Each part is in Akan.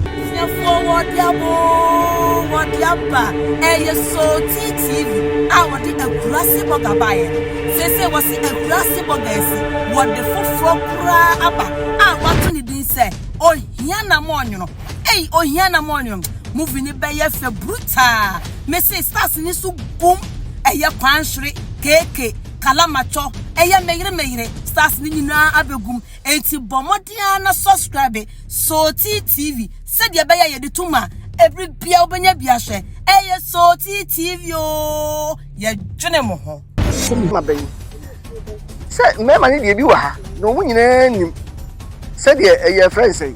Abusuafoɔ wɔde abo wɔde aba ɛyɛ Sotii TV a wɔde akurase bɔga baeɛ no seesei wɔsi akurase bɔga asi wɔde foforɔ koraa aba a wɔato ne din sɛ ohia na mo ɔnwono ei ohia na mo ɔnwono movie no bɛyɛ fɛ brutaa mese stars ne so gum ɛyɛ kwanhwere keke Kalamatcho, ɛyɛ me yere me yere, stars no nyinaa abegu mu, enti bɔ mmɔden ara na subscribe Sootii TV sɛdeɛ ɛbɛyɛ a yɛde to mu a, ɛbere biara wobɛnya bi ahwɛ. Ɛyɛ Sootii TV oo, yɛdwene mo ho. Asɛm aba yi sɛ mmarima no deɛ bi wɔ ha na wɔn nyinaa nim sɛdeɛ ɛyɛ ɛfrɛ no sɛn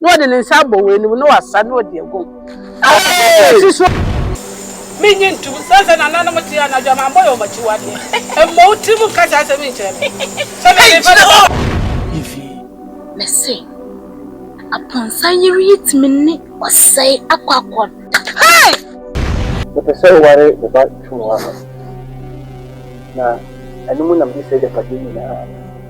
Na ɔde ne nsa abɔ wɔn anim na wasa na ɔde agu asase so. Minnye ntom. Sɛ sɛ nananom te anadwo a, mammɔ yɛn wɔn akyiwadeɛ. Mmɔ wo tirim nka saa asɛm yi nkyerɛ me. Sɛ mede mfa ne ho. Efi. Mese, Aponsa yere yi tumi ne ɔsɛe akɔ akɔda. Hey! Mepɛ sɛ woware me ba Twumua no, na ɛno mu na mede saa agyapadeɛ nyinaa.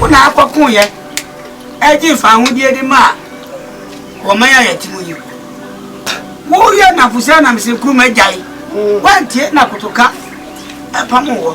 Wona akɔko yɛ ɛgye nfa ahodeɛ de ma a wɔman a yɛte mu yi woyɛ nafosɛ anamsɛ kuruma gyae wantie na kotoka ɛpam wɔ